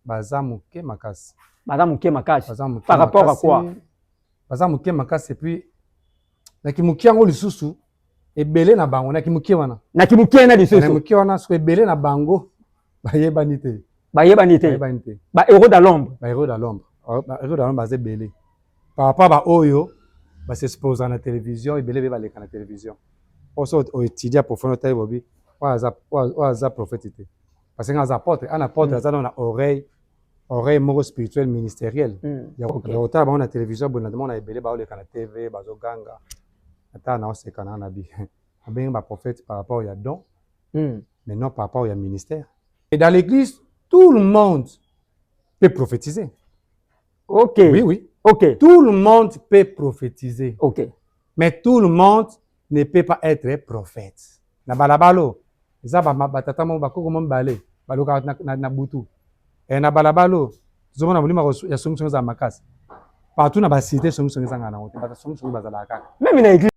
baza moke makasi baza moke makasi par rapport à quoi baza moke makasi epuis na kimoke yango lisusu ebele na bango na kimoke wana na kimoke wana lisusu moke wana soki ebele na bango bayebani te bayebani te bayebani te ba héros de l'ombre ba héros de l'ombre oh, ba héros de l'ombre baza ebele par rapport ba oyo ba s'exposa na télévision ebele be baleka na télévision oso oetudia profondeur tayi bobi oyo aza prophète te parce que aza apôtre ana apôtre mm. aza na oreille oreille moko spirituel ministériel mm. ya kotala bango na télévision boye natomona ebele baoleka na tv bazoganga ata naoseka na na bi abengi baprophète par rapport ya don mm. mais non par rapport ya ministère et dans l'église tout le monde peut prophétiser ok oui oui ok tout le monde peut prophétiser ok mais tout le monde ne peut pas etre prophète na balabala oyo eza batata moko bakoko mo mibale balokaka na, na, na butu e, na balabala oyo tozomona molimo ya songisongi ezala makasi partout na basite songisongi ezangaka nango te bato songisongi bazalaka kaka meme na eglise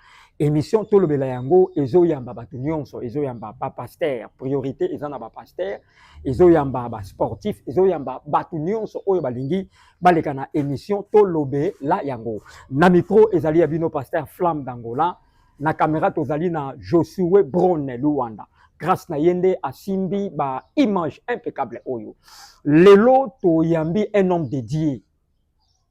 Emission tolobela yango ezoyamba bato nyonso, ezoyamba ba pasteur, priorité eza na ba pasteur, ezoyamba ba sportif, ezoyamba bato nyonso oyo balingi baleka na emission tolobela yango. Na micro ezali ya bino pasteur Flamme d'Angola, na camera tozali na Josue Brone Luanda. Grâce na ye nde asimbi ba image impeccable oyo. Lelo toyambi un homme de Dieu.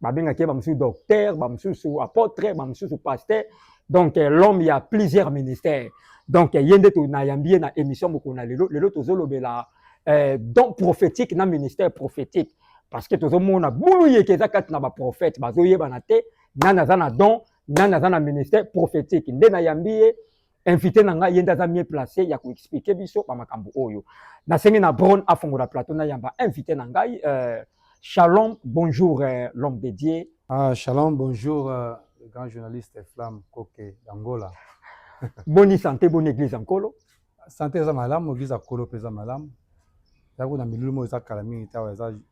babengaki ye bamosusu docteur bamosusu apotre bamosusu pasteur donc eh, l'homme ya plusieurs ministères donc eh, ye nde nayambi ye na émission mokolo na lelo lelo tozolobela eh, don prophétique na ministère prophétique parce que tozomona bulu yeke eza kati na baprophète bazoyebana te nani aza na don nani aza na ministère prophétique nde nayambi ye invité na ngai ye nde aza mieux placé ya koexplike biso bamakambo oyo nasengi na bron afongola plateau nayamba invité na ngai euh, shalom bonjour euh, l'homme de dieu ah, shalom bonjour euh, le grand journaliste flamme koke d'angola boni santé boni église ya nkolo santé eza malamu église ya nkolo mpe eza malamu yango na milulu moko eza kala mingi te awa eza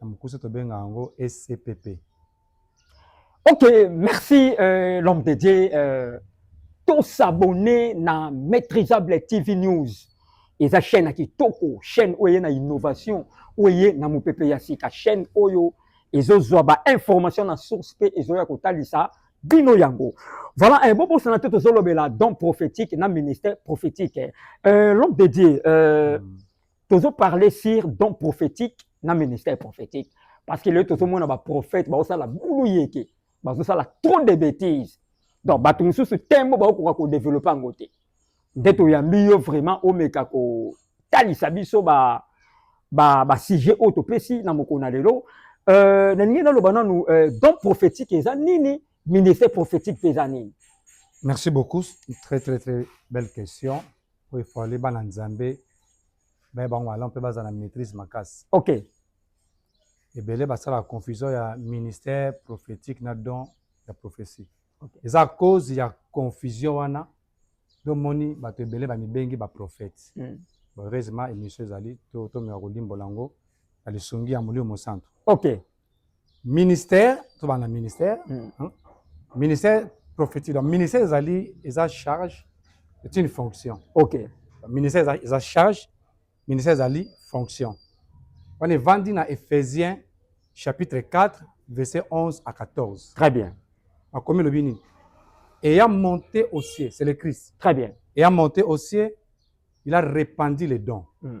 na mokuse tobenga yango scpp ok merci euh, l'homme de dieu euh, tosabone na maîtrisable tv news eza chaîne ya kitoko chaîne oyo eye na innovation oyo eye na mopepe ya sika chaîne oyo ezozwa bainformation na source mpe ezoya kotalisa bino yango voilà eh, bobosana te tozolobela don prophétique na ministère prophétique eh, l'homme de dieu euh, mm. tozo parler sur don prophétique na ministère prophétique parce que lelo tozomona baprophète baosala bulu yeke bazosala trop de bêtises donc bato mosusu tembo baokoka kodevelope yango te nde toyambi yo vraiment omeka kotalisa biso ba basujet ba oyo topesi na mokolo na lelo euh, nalingi naloba nanu euh, don prophétique eza nini ministère prophétique mpe eza nini merci beaucoup très très très belle question oyo il fallait bana nzambe baye bango malamu mpe bazala na maîtrise makasi ok ebele basala confusion ya ministère prophétique na don ya prophétie okay. eza cause ya confusion wana domoni bato ebele bamibengi baprophète mm. heureusement émission ezali tomeka kolimbola yango na lisungi ya molimo mosantu ok ministère tobanda ministère mm. hein? ministère prophétique donc ministère ezali eza charge est une fonction ok ministère eza, eza charge ministère ezali fonction wana evandi na ephésiens chapitre 4 verset 11 à 14 très bien akomi elobi nini ayant monté au ciel c'est le christ très bien ayant monté au ciel il a répandu les dons mm.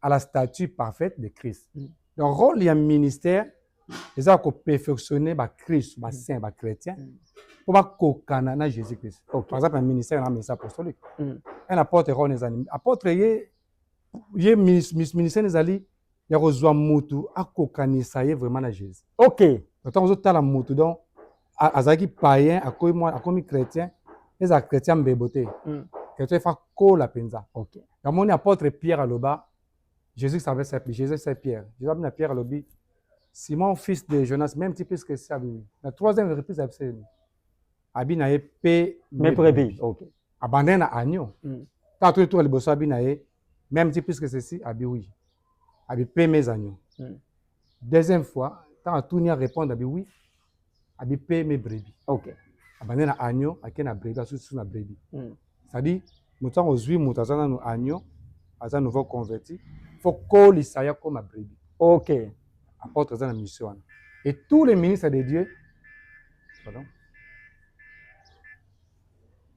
à la statue parfaite de Christ. Mm. Donc rôle ya ministère eza ko perfectionner ba Christ, ba mm. saints, ba chrétiens mm. pour ba kokana na Jésus Christ. Okay. Par exemple, un ministère na ministère apostolique. Mm. Un apôtre rôle les animes. Apôtre ye ye ministère ezali ya kozwa mutu akokanisa ye vraiment na Jésus. OK. Donc ozotala mutu donc azalaki païen akomi mwa akomi chrétien ezala chrétien mbebo te mm. chrétien efa kola mpenza okay. namoni apôtre pierre aloba jésus savait sa jésus c'est pierre jésus abina pierre alobi simon fils de jonas même ti plus que ça abimi na troisième reprise abisemi abi na ye pe mes brebis okay. abandaki na agneau mm. ntango toyetoka liboso abi na ye même si puisque ceci abi oui abi pe mes agneaux mm. deuxième fois tant à tout n'y répondre abi oui abi pe mes brebis ok abandé na agneau ake na brebis asu sous na brebis mm. ça dit mutu ango zui mutu aza nanu agneau aza nouveau converti faut kolisa ya koma brebis ok apôtre aza na mission wana et tous les ministres de Dieu pardon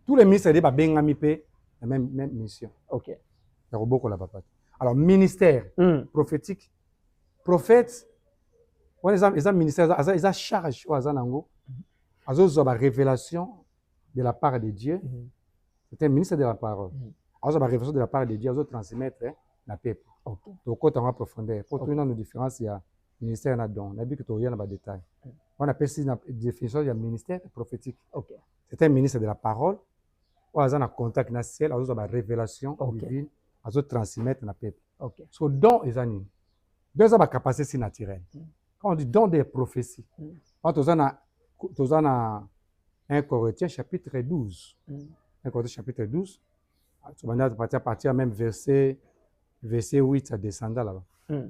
tous les ministres de babengami mpe na même même mission okay ya kobokola papa alors ministère mm. prophétique prophète wana eza eza ministère eza eza charge oyo aza nango azozwa ba révélation de la part de Dieu mm. c'est un ministre de la parole mm. azozwa ba révélation de la part de Dieu azo transmettre na peuple okay. tokota yango profondeur mpo okay. toyina no différence ya ministère na don nayebi ke toya na badetail wana apesi na définition ya ministère prophétique okay. c'est un ministre de la parole oyo aza na contact na ciel azozwa barévélation okay. divine azotransmettre na peuple okay. so don eza nini don eza bacapacité si naturelle mm. quand on dit don des prophéties mm. wana toza na toza na 1 corinthiens chapitre 12 mm. 1 corinthiens chapitre 12 tobanda partir même verset verset 8 adescenda là-bas mm.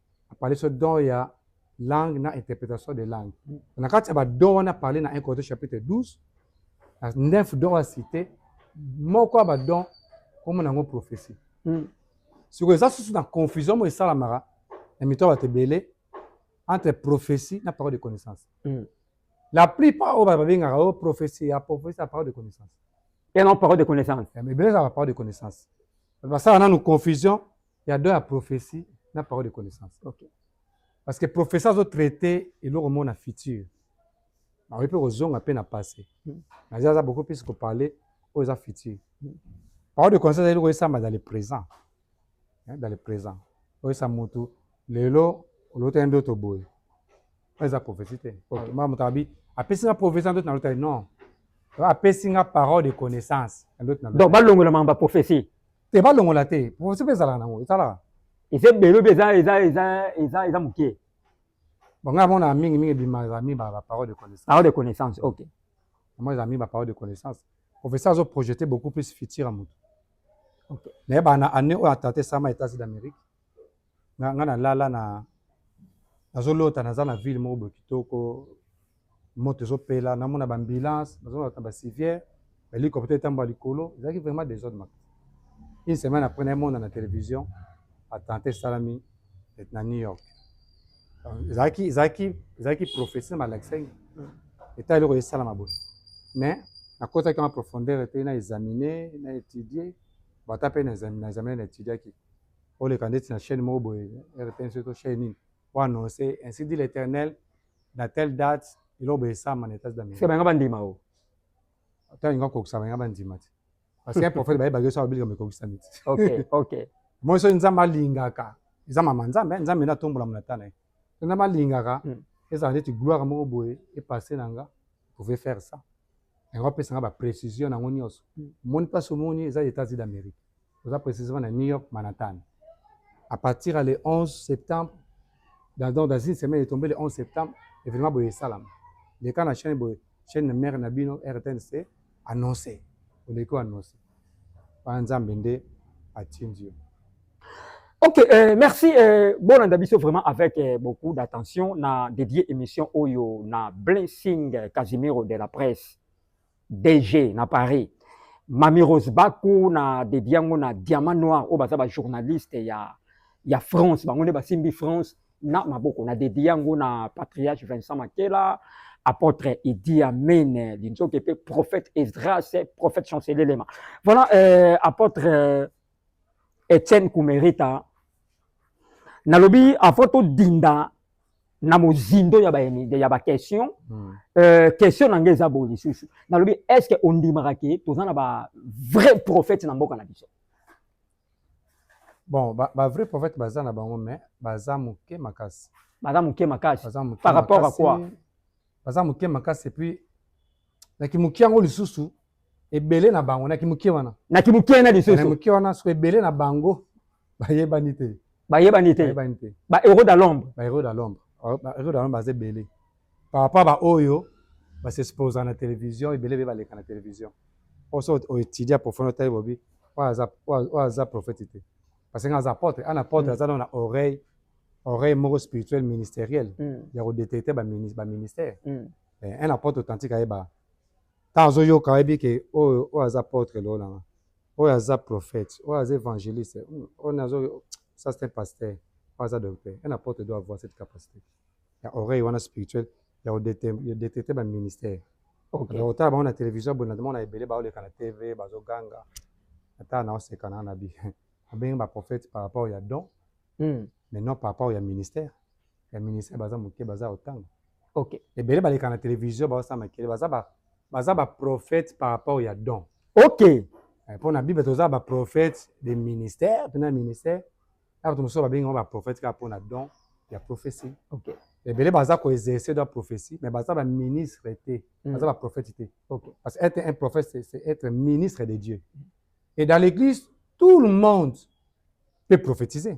apali so don ya langue na interprétation de langue na kati ya badon wana parle na 1 Corinthiens chapitre 12 na 9 don ya cité moko ya badon komona yango prophétie hmm. sikoyo eza susu na confusion moko esalamaka na mito ya bato ebele entre prophétie na parole de connaissance hmm. la plupart oyo babengaka oyo prophétie ya prophétie ya parole de connaissance et non parole de connaissance ebele ezalaka parole de connaissance basala nanu confusion Il y a deux à prophétie na parole de connaissance. Ok. Parce que professeur azo traiter eloko moko na futur. Ba oyepe kozonga pe na passé. Hmm. Na aza beaucoup plus ko parler aux a futur. Hmm. Parole de connaissance eloko esamba dans le présent. Hein, dans le présent. Oyo sa mutu lelo olota yende to boye. Eza prophétie te. Ok. Ah. Mama mutabi apesi nga prophétie ndoto na lota non. Apesi nga parole de connaissance ndoto na. Donc balongola mamba prophétie. te balongola te prophetie mpe ezalaka nango esalaka eza ebele obi eza eza eza eza eza moke bon ngai amona mingi mingi ebima eza mingi ba parole de connaissance parole de connaissance ok moi eza mingi ba parole de connaissance professeur azo projeter beaucoup plus futur ya moto okay. naye bana année oyo atata esama etats-unis d'amérique nga nga na lala na nazo lota naza na ville moko boye kitoko moto ezo pela na mona ba ambulance nazo na ba civière ba hélicoptère etamba likolo ezalaki vraiment des autres makasi une semaine après na mona na télévision attentat esalami na New York ezalaki ezalaki ezalaki prophétie na malakisaki eta eloko esalama boye mais nakotaki en profondeur te na examiner na étudier bata mpe na examiner na étudiaki oleka ndeti na chaîne moko boye rtnc to chaîne nini o annonce ainsi dit l'éternel na telle date eloko boye esama na etats d'amérique banga bandima o ata linga kokisa banga bandima te parce que prophète baye bageso abilika mekokisa niti ok ok moi soki nzambe alingaka eza mama nzambe nzambe nde atombola monata na ye soki nzambe alingaka hmm. ezala ndeti gloire moko boye epasse na nga pouvez faire ça yango apesa nga baprécision nango nyonso omoni hmm. mpasi omoni eza états unis d'amérique toza precisement na New York Manhattan à partir ya le 11 septembre dans, dans, dans une semaine etombe le 11 septembre événement boye esalama leka na chaîne boye chaîne mère na bino rtnc annonce oleki oannonce wana nzambe nde atindi yo Ok, euh, merci. Euh, bon, Andabiso, vraiment avec euh, beaucoup d'attention, na dédié émission Oyo na Blessing Casimiro de la presse. DG na Paris Mami Rose Baku na dedi yango na Diamant Noir oyo baza ba journaliste ya ya France bango nde basimbi France na maboko na dedi yango na patriarche Vincent Makela apôtre Idi Amen Linzoke pe prophète Esdras prophète Chancelier Lema voilà euh, apôtre euh, Etienne Kumerita nalobi avant todinda na mozindo ya ba ya ba question hmm. euh, question na ngai eza boye lisusu nalobi est ce que ondimaka ke toza na ba vrai prophète na mboka na biso bon ba, ba vrai prophète baza na bango mais baza moke makasi baza moke makasi baza moke par rapport makasi, à quoi baza moke makasi epuis na kimoki yango lisusu ebele na bango na kimuke wana na kimuke wana lisusu na kimuke wana soki ebele na bango bayebani te bayebani te bayebani te ba héros de l'ombre ba héros de l'ombre oh, ba héros de l'ombre baza ebele par rapport ba oyo ba s'exposa na télévision ebele be baleka na télévision oso o étudier profond otali bobi oyo aza oyo aza prophète te parce que aza apôtre ana apôtre mm. aza na oreille oreille moko spirituel ministériel mm. ya ko détecter ba ministère mm. eh, un apôtre authentique ayeba Tango azo yoka ayebi ke oyo oyo aza apotre elongo na nga oyo aza prophète oyo aza evangeliste hmm, oyo nazo ça c'est un pasteur oyo aza docteur un apôtre doit avoir cette capacité ya oreille wana spirituelle ya ko détecter ba ministère okay. donc otala bango na télévision boye na mona ebele ba oleka na TV bazo ganga ata na oseka na na bi abengi ba prophète par rapport ya don mm. mais non par rapport ya ministère ya ministère baza moke baza ya otanga ok ebele baleka na télévision baosala makele baza ba baza ba prophète par rapport ya don ok eh, mpo na bible toza ba prophète de ministère mpe na ministère na bato mosusu babengi yango ba prophète kaka mpo na don ya prophétie ok ebele baza ko exercer droit prophétie mais baza ba ministre te mm. baza ba prophète te okay. parce que être un prophète c'est être ministre de Dieu et dans l'église tout le monde peut prophétiser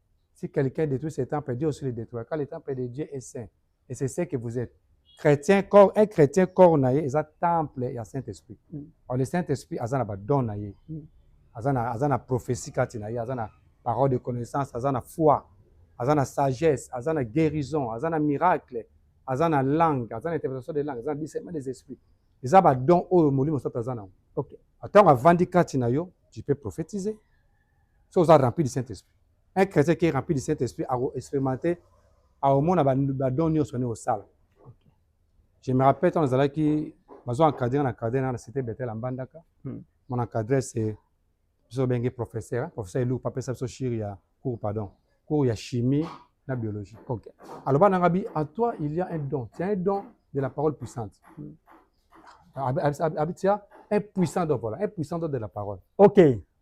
Si quelqu'un détruit ce temple, Dieu aussi le détruira. Car le temple de Dieu est saint. Et c'est ce que vous êtes. Chrétien, corps, un chrétien, corps na ye, eza temple ya Saint-Esprit. Mm. Alors le Saint-Esprit, aza na ba don na ye. Mm. Aza na, aza na prophétie kati na ye, aza na parole de connaissance, aza na foi, aza na sagesse, aza na guérison, aza na miracle, aza na langue, aza na interprétation de langue, aza na discernement des esprits. Eza ba don oyo molimo soto aza na. Okay. Attends, avandi kati na yo, tu peux prophétiser. soki oza rempli du saint esprit un chrétien qui est rempli du saint esprit ako expérimente akomona badon nyonso nde osala je me rappelle ntango nazalaki bazo encadre na cadre na na cité betel ya mbandaka hmm. mon encadre c'est biso obenge professeur professeur eluku apesa biso shiri ya cours pardon cours ya chimie na biologie okay. aloba nanga bi en toi il y a un don c'est un don de la parole puissante hmm. abitia un puissant don voilà un puissant don de la parole okay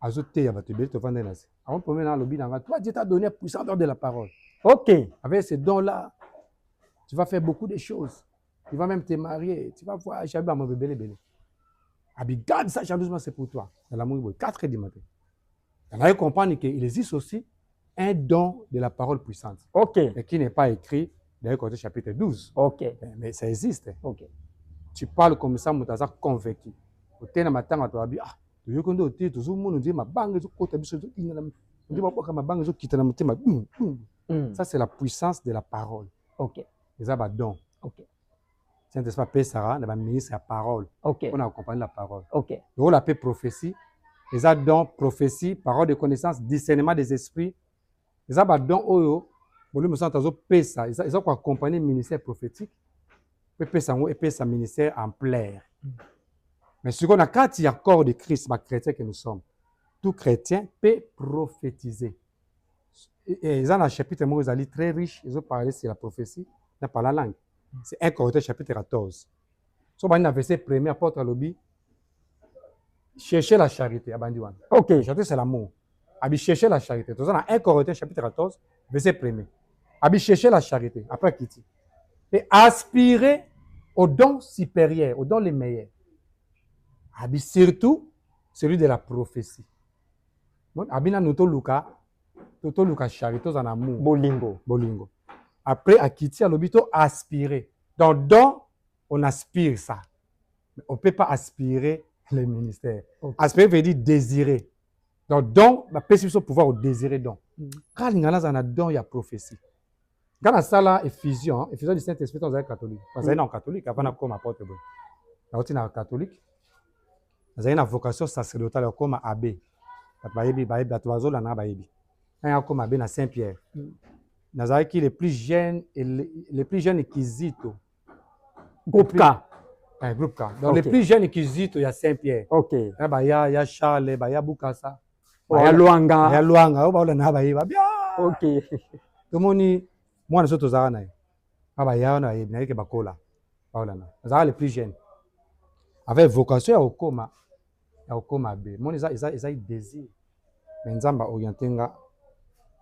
azo teya bato ebele tovandai na se avant premier na alobi na nga toi dieu t'a donné puissant dor de la parole ok avec ce don là tu vas faire beaucoup de choses tu vas même te marier tu vas voir jabi bamabo ebele ebele abi garde ça jalousement c'est pour toi na lamuki boye 4 heures du matin nanaye comprendre que il existe aussi un don de la parole puissante. Ok. Mais qui n'est pas écrit dans le Corinthiens chapitre 12. Ok. Eh, mais ça existe. Ok. Tu parles comme ça, Moutaza convaincu. Otena matanga to abi ah tu toyoki nde ote tozomona nde mabanga ezokota biso ezokingana nde mabwaka mabanga ezokita na motema ça c'est la puissance de la parole ok eza badon ok saint esprit apesaka na baministre ya parole mpo na kokompani la parole lokola mpe prophétie eza don prophétie parole de connaissance discernement des esprits eza badon oyo molimo santo azopesa eza koaccompagne ministère prophétique mpe epesa yango epesa ministère ampleur hmm. mais sikoyo na kati ya corps de christ bachrétien que nous sommes tout chrétien mpe prophétise Eh, eh, eza na chapitre moko ezali très riche ezo parle sur la prophétie na pala langue c'est un correcteur chapitre 14 so bandi na verset premier apôtre alobi chercher la charité abandi wana ok charité c'est l'amour abi chercher la charité toza na un correcteur chapitre 14 verset premier abi chercher la charité après akiti et aspirer au don supérieur au don le meilleur abi surtout celui de la prophétie abi nanu toluka to toluka charité tozala na amour bolingo bolingo après akiti alobi to aspire donc don on aspire ça mais on peut pas aspirer le ministère okay. aspirer veut dire désirer donc don bapesi biso pouvoir odésire don mm. kaka linga nazala na don ya prophétie Nga nasala effusion, effusion du Saint-Esprit ntango nazalaki catholique. Nazali na catholique avant nakoma apôtre boye. Nauti na catholique. Nazali na vocation sacerdotale ya kokoma abbé. Bato bayebi, bayebi, bato bazolanda nga bayebi. Ntango akoma abbé na Saint-Pierre. Mm. Nazalaki le plus jeune, le plus jeune Kizito. Groupe K. Eh, groupe K. Donc okay. le plus jeune Kizito ya Saint-Pierre. Ok. Eh, baya, ya Charles, baya Bukasa. ya lwanga ya lwanga oyo baola na bayeba bia ok tomoni mwana so tozalaka na ye na baya wana bayebi na ye ke bakola baola na azalaka le plus jeune avec vocation ya kokoma ya kokoma be moni eza eza eza désir mais nzambe aoriente nga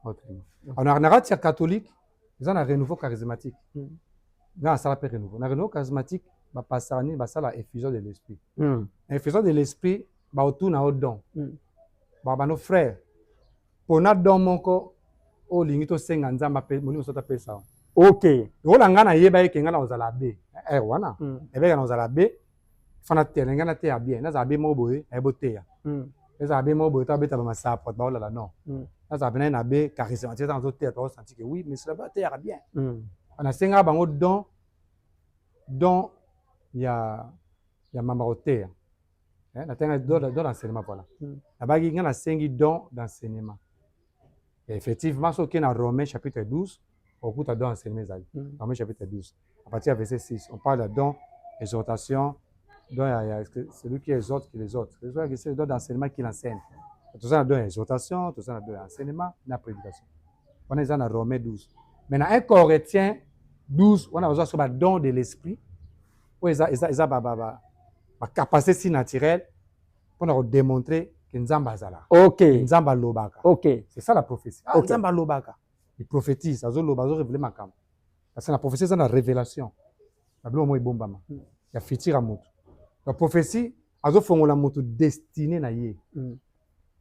autrement alors na kati ya catholique eza na renouveau charismatique hmm. nga nasala mpe renouveau na renouveau charismatique bapasaka nini basala effusion de l'esprit hmm. effusion de l'esprit bakotuna yo don mm. bakobanda frère pona don moko oyo olingi tosenga nzambe ape molimo soto apesa yo ok lokola ngai nayeba eke ngai nakozala be eh, eh, wana mm. ebeka nakozala be fana te na ngai nateya bien nazala be moko boye naye boteya mm. ezala be moko boye to abeta bamasapote baolala non mm. nazala mpe naye na be charismatique eza nazoteya tokosanti ke oui mais cela ba ateyaka bien mm. nasengaka bango don don ya ya mama koteya eh, natanga don d'enseignement voilà hmm. nabaki ngai nasengi don d'enseignement effectivement soki na romain chapitre 12 okuta don enseignement ezali hmm. romain chapitre 12 à partir ya verset 6 on parle ya don exhortation don ya, ya celui qui exhorte qui les autres le don d'enseignement qui l'enseigne toza na don ya exhortation toza na don ya enseignement na prédication wana eza na romain 12 mais na 1 corinthiens 12 wana bazwa so badon de l'esprit oyo eza, eza, eza ba, ba, ba, ba capacité si naturel pour na démontrer que Nzamba azala. OK. Nzamba lobaka. OK. C'est ça la prophétie. Ah, okay. Nzamba lobaka. Il prophétise, azo loba, azo révéler makam. Parce que la prophétie c'est la révélation. La blo moi bombama. Il y a futur à mutu. La prophétie azo fongola mutu destiné na ye. Mm.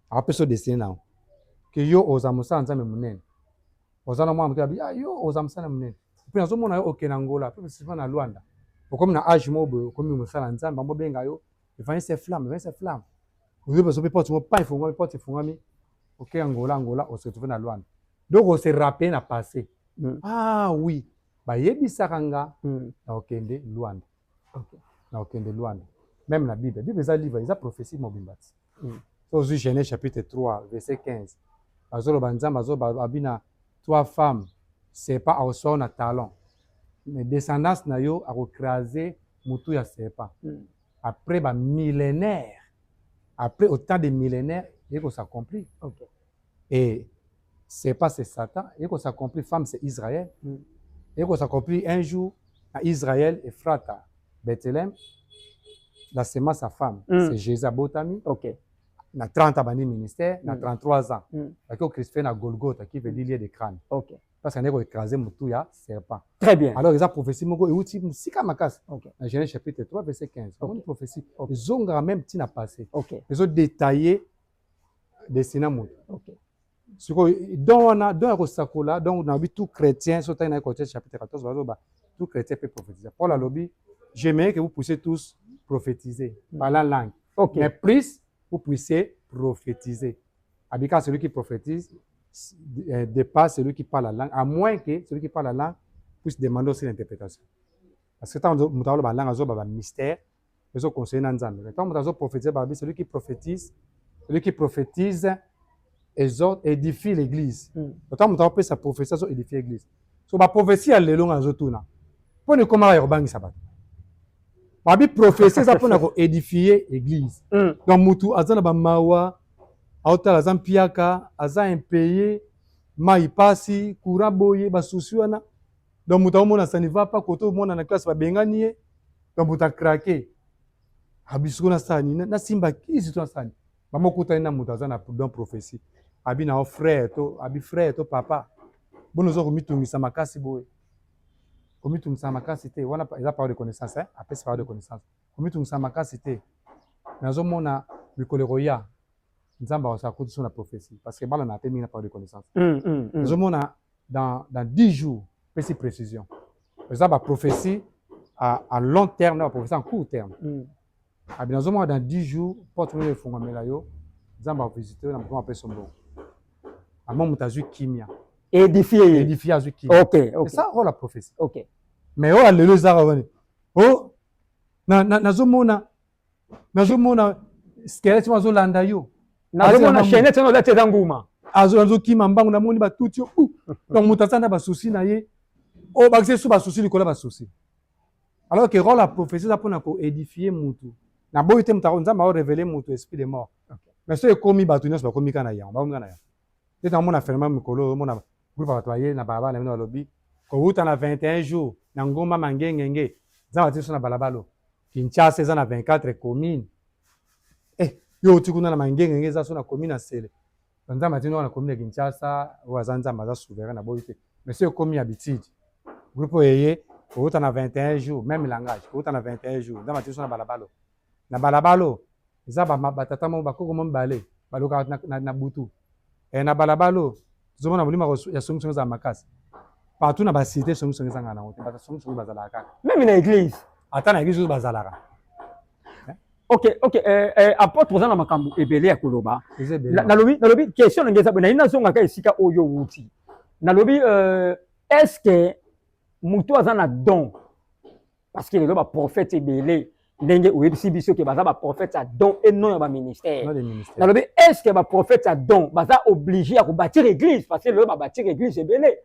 apesa destine na yango ke yo oza mosala nzambe monene oza na mwana moke abi ah, yo oza mosala monene mpe nazomona yo oke na ngola mpe mosima na lwanda okomi na age moko boye okomi mosala nzambe bango benga yo evanise flamme evanise flamme oyo bazo mpe porte moko pa efungwami porte efungwami oke ya ngola ngola ose retrouve na lwanda donc ose rappele na passé mm. ah oui bayebisaka nga mm. na okende lwanda Okay. Na okende Luanda. Même na Bible. Bible eza livre, eza prophétie mobimba. Mm. So ozui Genèse chapitre 3 verset 15. Azoloba Nzambe azoloba abina trois femmes. C'est pas au soir na talent. Mais descendance na yo akocraser mutu ya serpent. Mm. Après ba millénaires. Après autant de millénaires, il faut s'accomplir. Okay. Et c'est pas c'est Satan eko s'accomplir femme c'est Israël eko s'accomplir un jour na Israël Ephrata Bethlehem la semence ya femme mm. c'est Jésus abotami okay. na 30 abandi ministère na 33 mm. ans mm. baki ocrispe na Golgotha qui veut dire lieu de crâne okay. parce que ndeko écraser mutu ya serpent très bien alors eza prophétie moko euti musika makasi okay. na Genèse chapitre 3 verset 15 okay. amoni prophétie okay. ezongaka même tina passé okay. ezo détailler destina moto okay. sikoyo don wana don ya kosakola donc nabi tout chrétien so otangi na ecotier chapitre 14 bazoba tout chrétien peut prophétiser paul alobi j'aimerais que vous puissiez tous prophétiser par la langue okay. mais plus vous puissiez prophétiser abika celui qui prophétise euh, dépasse celui qui parle la langue à moins que celui qui parle la langue puisse demander aussi l'interprétation parce que ntango moto aloba langue azoba bamystère ezo conseiller na Nzambe. Mais tant moto azo prophétiser ba celui qui prophétise, celui qui prophétise exhorte, édifie l'église. Mm. Tant moto azo sa prophétie azo édifier l'église. So ba prophétie ya lelo nga azo tuna. Pona ekoma ya kobangisa bato. Babi prophétie eza pona ko édifier église. Mm. Donc mutu aza na ba mawa, aotala aza mpiaka, aza impayé, mai pasi, courant boye, ba souci wana. donc moto akomona ça ne va pas kote omona na classe babengani ye donc moto akrake abisiko ah, nasala nini nasimba kisi to nasala nini mama okutani na moto aza na don prophetie abi na frère to abi frère to papa bona oza komitungisa makasi boye komitungisa makasi te wana eza parole de connaissance eh? apesi parole de connaissance komitungisa makasi te nazomona mikolo ekoya nzambe akosa akoti so na prophetie parce que bana na te mingi na parole de connaissance nazomona mm, mm, mm. dans, dans 10 jours pesi précision eza baprophetie à, à long terme na baprophetie en court terme mm. abi nazomona dans 10 jours porte oyo efungwamela yo nzambe akovisite yo na mokoma apesa mbongo ama moto azwi kimia édifie ye édifie azwi kimia okay, okay. eza oyo la prophetie okay. mais oyo alelo ezaka wani o nazomona na, na nazomona skelete wana azolanda yo nazomona chainete wana olati eza nguma azokima mbangu namoni batuti yo donc moto aza na basusi na ye oyo bakisa esu basusi likolo ya basusi alors que role ya prophetie eza mpona koedifie motu naboyi te moto nzambe aorevele moto esprit de mort mais soki ekomi bato nyonso bakomi kaka na yango bakomi kaka na yango nde namona phénomène mikolo oyo omona groupe ya bato baye na balabala na bino balobi kowuta na 21 jours na ngomba mangengenge nzambe ati biso na balabala Kinshasa eza na 24 commune eh, yo oti kuna na mangengenge eza so na commune ya sele nzambe atindi wana commune ya kinshasa oyo aza nzambe aza souverain na boyi te mais so ekomi ya bitidi groupe oyo eye kowuta na 21 jours meme langage kowuta na 21 jours nzambe atindi so na balabalo na balabalo Eza ba ba tata moko ba koko moko mibale ba loka na, na, na butu eh, na balabala oyo tozo mona molimo ya songi songi ezala makasi partout na ba cité songi songi ezanga na wote ba songi songi bazalaka kaka même na église ata na église bazalaka eh? ok ok eh, eh, apôtre oza na makambo ebele ya koloba nalobi nalobi question na ngai eza na ina zonga ka esika oyo wuti nalobi euh, est-ce que mutu aza na don parce que lelo baprofete ebele ndenge oyebisi biso ke baza baprofete ya don e non ya baministère nalobi est ce que baprofete ya don baza oblige ya kobâtir église parce que lelo babâtir église ebele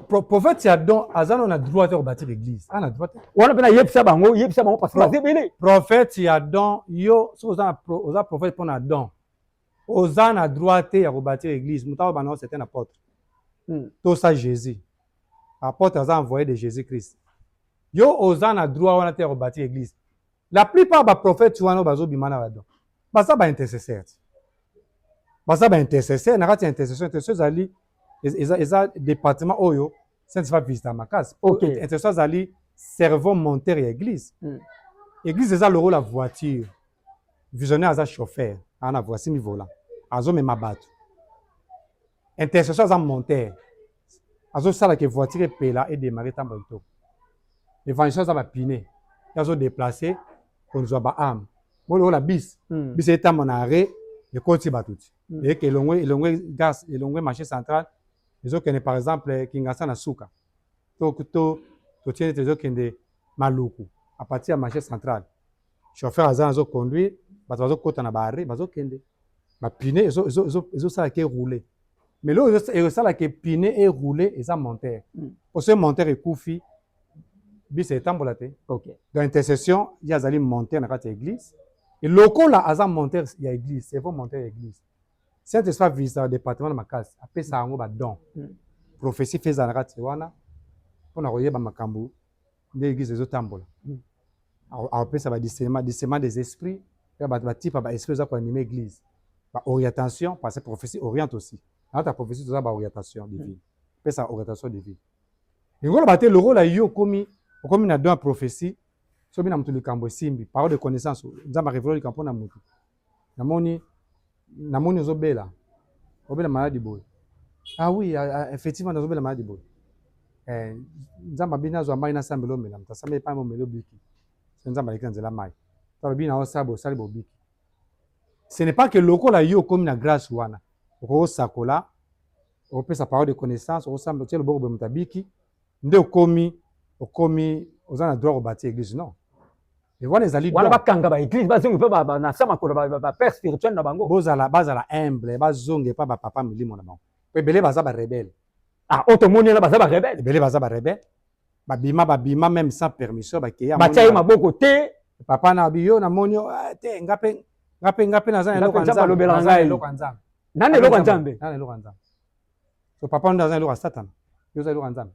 prophète ya don aza no na droit te kobâtir église ana droit te wana mpe nayebisa bango yebisa bango parce que baza ebele prophète ya don yo soki oza prophète mpo na don Oza na droit te ya ko batir eglise mutu azo banda ngo c'est un apotre hmm. tosa Jesus apotre aza envoye de Jesus Christ yo oza na droit wana te ya ko batir eglise la plupart ba prophète wana bazo bima na badon baza ba intercesseur baza ba intercesseur na kati ya intercession intercession ezali eza eza département oyo saint va visita makasi okay. intercession azali cerveau monteur ya église hmm. église eza lokola voiture Visionnaire aza chauffeur aza na voici mi volant azomema bato intercession aza monteur azosala ke voiture epela edemare ntango kitoko evangelation aza bapine ye azodeplace kozwa baame bo lokola bis hmm. bis etamba na arret ekoti bato ti hmm. eke elongwe elongwe gas elongwe marché central ezokende par exemple kingasa na suka to to totie neti ezokende maluku a partir ya marché central chauffeur aza nazo conduire bato bazokota na baarre bazokende bapine ezosala ke roule mais leo ezosala ke pine e roule eza montere hmm. po soki montere ekufi bisa etambola te okay. donc intercession ye azali montere na kati ya église lokola aza montere ya église c'est vrai montere ya église Saint Esprit a visitaka departement na makasi, apesaka yango ba don. Mm. Prophetie mpe ezala na kati wana mpo na koyeba makambo nde eglise ezotambola. Mm. Apesa ba discernement, discernement des esprits, ya bato ba type ya ba esprit eza ko anime eglise. Ba orientation parce que prophetie oriente aussi. Na ta prophetie toza ba orientation divine. Mm. Pesa orientation divine. Ngolo bate lokola yo komi okomi na don ya prophetie soki na moto likambo esimbi parole de connaissance nzambe areveloli likambo mpo na moto namoni namoni ozobela obela maladi boye ah oui ah, ah, effectivement nazobela maladi boye eh, nzambe abini azwa mai nasambela omela moto asambeli epai momeli obiki so nzambe aleki na nzela mai to alobi na osala bosali bobiki ce n'est pas que lokola yo okomi na grâce wana okokosakola okopesa parole de connaissance okosamba otie loboko boye moto abiki nde okomi okomi oza na droit kobati eglise non wana ezali wana bakanga ba eglise bazongi mpe na sa makolo ba père spirituel na bango bozala bazala humble bazongi epa ba papa milimo na bango mpo ebele baza ba rebelle ah oyo tomoni wana baza ba rebelle ebele baza ba rebelle babima babima même sans permission bakeya batya ye maboko te papa na biyo namoni ah, te nga mpe nga mpe nga mpe naza na eloko ya nzambe nani eloko ya nzambe nani eloko ya nzambe so papa nde aza eloko ya satana yo oza eloko ya nzambe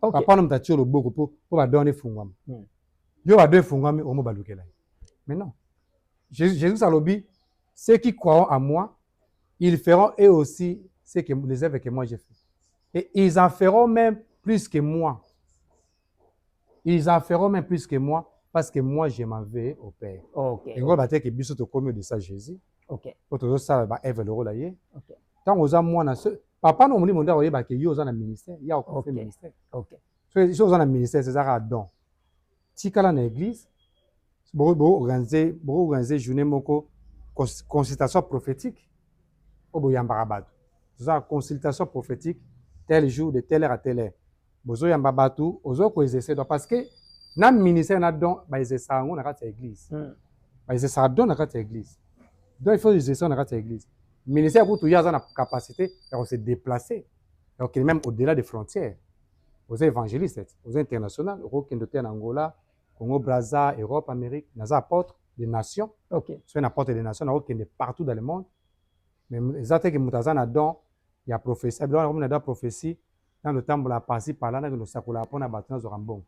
okay. papa wana moto atie loboko mpo mpo badon wana efungwama hmm. yo badon efungwami omo balukela ye mais non jesus, jesus alobi ceux qui croiront à moi ils feront eux aussi ce que, les œuvres que moi j'ai fait et ils en feront même plus que moi ils en feront même plus que moi parce que moi je m'en vais au père okay. yango bateke biso tokomi odesa jésus okay. po tozosala baeve lokola ye okay. ntango oza mwana papa na molimo nde akoyeba ke yo oza na ministère ya okofe okay. ministère okay. so, so oza na ministère eza kaka don tikala na église boorganize boorganize journée moko consultation prophétique oyo boyambaka bato toza consultation prophétique tel jour de telle heure à telle heure bozo yamba batu ozo ko exercer donc parce que na ministère na don ba exercer yango na kati ya église mm. ba exercer don na kati ya église donc il faut exercer na kati ya église ministère kutu ye aza na capacité ya ko se déplacer ya kokende même au delà des frontières oza évangéliste oza international okokende oteya na angola congo braza europe amérique naza apôtre des nations okay. soki na apôtre des nations nakokende partout dans le monde mais eza te ke moto aza na don ya prophétie abiloko nakomona da prophétie na lotambola pasi pala na losakola pona bato na zwaka mbongo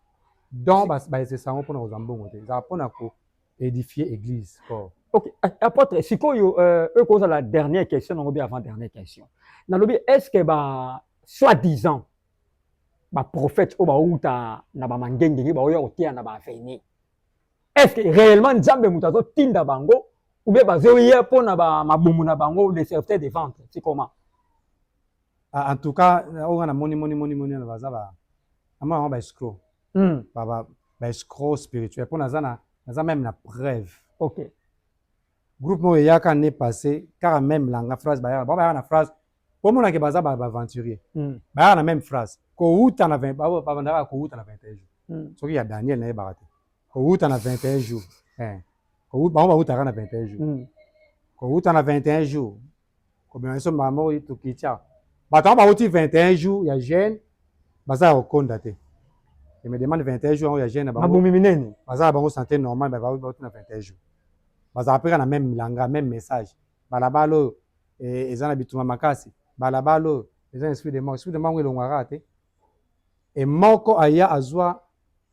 donc balesesa yango pona kozwa mbongo te ezala pona ko édifier église corps Ok, apotre, sikoyo euh, oyo la dernière question nango bien avant dernière question. Nalobi est-ce que ba soit disant ba prophète oyo bawuta na ba mangengenge baoya koteya na ba aveni. Est-ce que réellement Nzambe moto azotinda bango ou bien bazoya mpo na ba mabumu na bango le serviteur de vente, c'est comment? Ah, en tout cas, euh, on a moni moni moni moni na baza ba ama ba escroc. Mm. Ba ba ba escroc spirituel. Pour naza na naza même na preuve. OK. Groupe mo yaka ne passé car même langa phrase ba yaka ba yaka na phrase pour mona ke baza ba aventurier. Mm. Ba yaka na même phrase. Ko uta na 20 ba ba bandaka ko uta na 21 jours. Mm. Soki ya Daniel na ye barate. Ko uta na 21 jours. Eh. Ko uta ba uta na 21 jours. Mm. Ko uta na 21 jours. Komema biso mbala moko tukitya bato yango bauti 21 jours ya jeune baza ya kokonda te je me demande 21 jours yango ya jeune na bango mabomi minene baza na bango santé normale mais bauti na 21 jours bazalaka mpe kaka na meme milanga meme message balabala oyo eh, eza na bitumba makasi balabala oyo eza na esprit de mort esprit de mort yango elongwaka te e moko aya azwa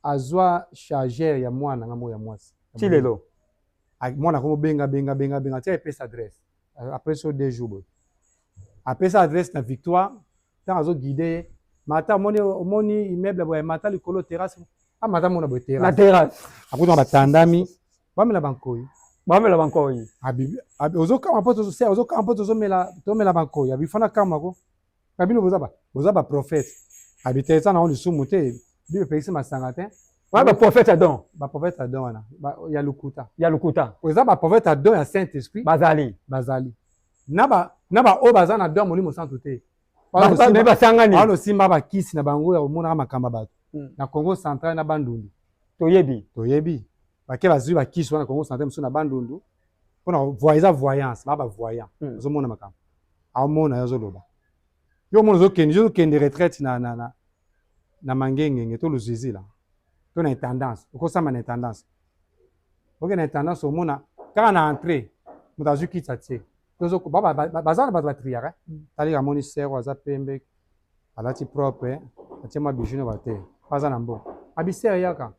azwa chargeur ya mwana ngambo ya mwasi ti lelo mwana akomobenga benga benga benga ti apesa adresse après so deux jours boye apesa adresse na victoire ntango azo guide ye mata omoni omoni immeuble boye mata likolo terrasse amata ah, mona boye terrasse na terrasse akutana batandami bamela bankoyi bamela bankoyi ozokama mpo ozokama mpo tozomela tomela bankoyi abifana kama ko Na bino boza ba boza ba prophète. Abite eza na on lisumu te. Bino epekisi masanga te. Wana ba prophète ya don. Ba prophète ya don wana ba ya lokuta. Ya lokuta. Oza ba prophète ya don ya Saint Esprit. Bazali. Bazali. Na ba na ba oyo baza na don ya Molimo Santu te. Bazali basangani. Wana osimba ba kisi na bango ya komonaka makambo ya bato. Hmm. Na Congo central na Bandundu. Toyebi. Toyebi. bake bazwi bakisi wana kongo central mosusu na bandundu mpona voi eza voyance baa bavoyant hmm. ozomona makambo aomona yo azoloba yo omona ozokende yo ozokende retraite na, na, na, na mangengenge to luzizila to na intendance okosamba na intendance oke na intendance omona kaka na entrée moto azwi kitsa tie baza na bato batriaka hmm. talika amoni sero aza pembe alati propre atie mwa bijou na bate aza na mboka abisere yaka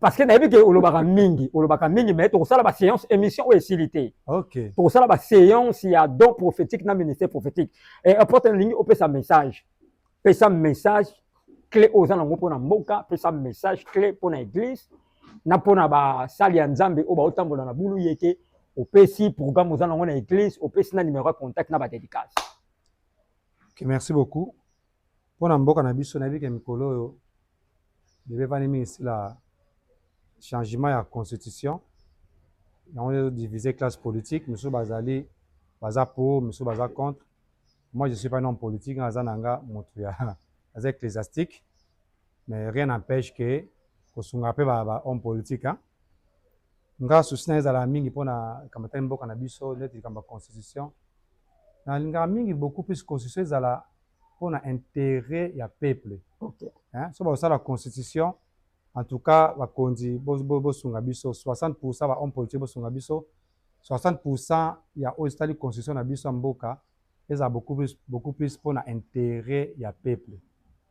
parce que nayebi ke olobaka mingi olobaka mingi mais tokosala ba séance émission oyo esili te okay. tokosala ba séance ya don prophétique na ministère prophétique e apote nalingi opesa message pesa message clé oyo oza nango mpo na mboka pesa message clé mpo na église na mpo na basali ya nzambe oyo baotambola na bulu ye te opesi programme oza nango na église opesi na numéro ya contact na badédicace okay, merci beaucoup Mpo na mboka na biso nayebi ke mikolo oyo bebevani mingi sila changement ya constitution yango nde ezo diviser classe politique misusu bazali baza pour misusu baza contre moi je suis pas un homme politique nga naza na nga motu ya naza ecclesiastique mais rien n'empêche que kosunga mpe ba, ba homme politique hein? nga susi na ezala mingi mpo na likambo etali mboka na biso neti likambo ya constitution nalingaka mingi beaucoup plus constitution ezala mpo na interet ya peuple okay. Hein? so bakosala constitution en tout cas bakonzi bosunga biso 60 pourcent ba homme politique bosunga biso 60 pourcent ya oyo etali constitution na biso ya mboka ezala beaucoup plus, beaucoup plus mpo na interet ya peuple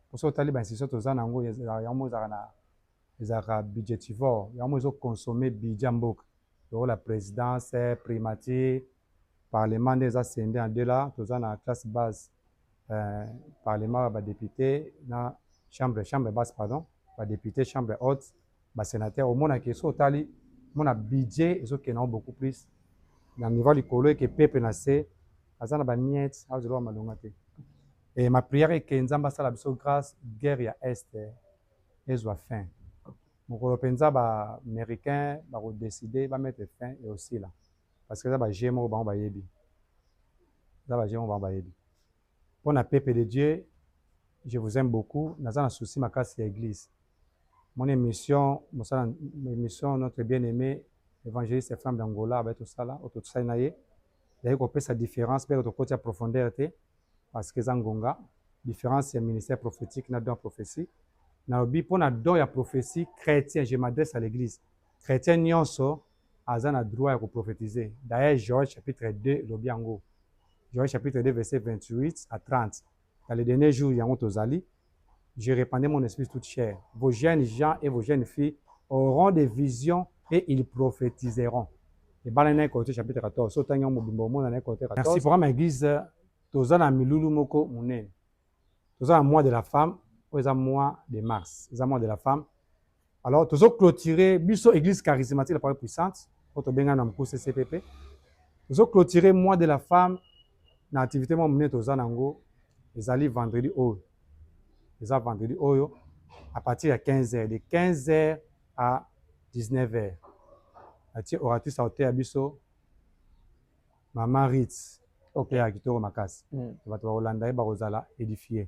mpo soki otali bainstitution toza na yango yango ezalaka na ezalaka budgetivore yango ezoconsomme budget ya mboka lokola présidence primature Parlement nde eza scinde en deux là toza na classe base eh, parlement ya ba depute na chambre chambre basse pardon ba depute chambre haute ba sénateur omona ke so otali mona budget ezokende yango beaucoup plus na niveau likolo eke peuple na se aza na bamiete azoloba malonga te e ma prière eke nzambe asala biso grâce guerre ya est ezwa fin mokolo mpenza baaméricain bakodeside bamettre fin eosila Parce que eza ba jeux moko bango bayebi. Eza ba jeux moko bango bayebi. Pona Pepe de Dieu, je vous aime beaucoup. Naza na souci makasi ya eglise. Mon emission, mosala emission notre bien aime evangeliste Ephraim d'Angola abaye tosala, oyo tosali na ye. Ezali kopesa difference mpe tokoti ya profondeur te parce que eza ngonga. Difference ya ministère prophétique na don ya prophétie. Nalobi mpo na don ya prophétie chrétien, je m'adresse à l'église. Chrétien nyonso aza na droit ya ko prophetise d'ailleurs Joël chapitre 2 elobi yango Joël chapitre 2 verset 28 à 30 dans les derniers jours yango tozali je répandrai mon esprit toute chair vos jeunes gens et vos jeunes filles auront des visions et ils prophétiseront ebala na Corinthiens chapitre 14 so tangi yango mobimba omona na Corinthiens 14 merci programme église toza na milulu moko munene toza na mois de la femme oyo eza mois de mars eza mois de la femme Alors tozo clôturer biso église charismatique la parole puissante oyo tobenga na mokuse CPP. Tozo clôturer mois de la femme na activité mwa monene toza nango ezali vendredi oyo. Eza vendredi oyo à partir ya 15h de 15h à 19h. Atie oratrice auteur ya biso Mama Ritz. Okay. Ya kitoko makasi. Mm. Bato bakolanda ye bakozala édifier.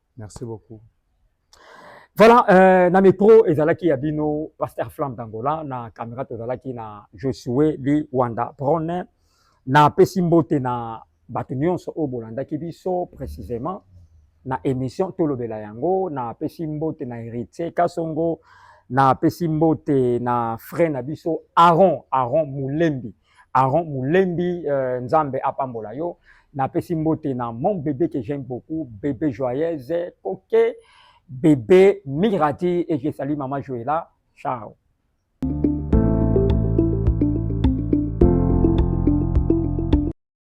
Merci beaucoup. Voilà, euh, na micro ezalaki ya bino Pasteur Flamme d'Angola na caméra tozalaki na Josué li Wanda Brone na pesi mbote na bato nyonso oyo bolandaki biso précisément na émission tolobela yango na pesi mbote na Héritier Kasongo na pesi mbote na frère na biso Aaron Aaron Mulembi Aaron Mulembi euh, Nzambe apambola yo. Napesi mbote na mon bébé que j'aime beaucoup, bébé joyeuse, coquet, bébé Mirati et je salue maman Joëla. Ciao.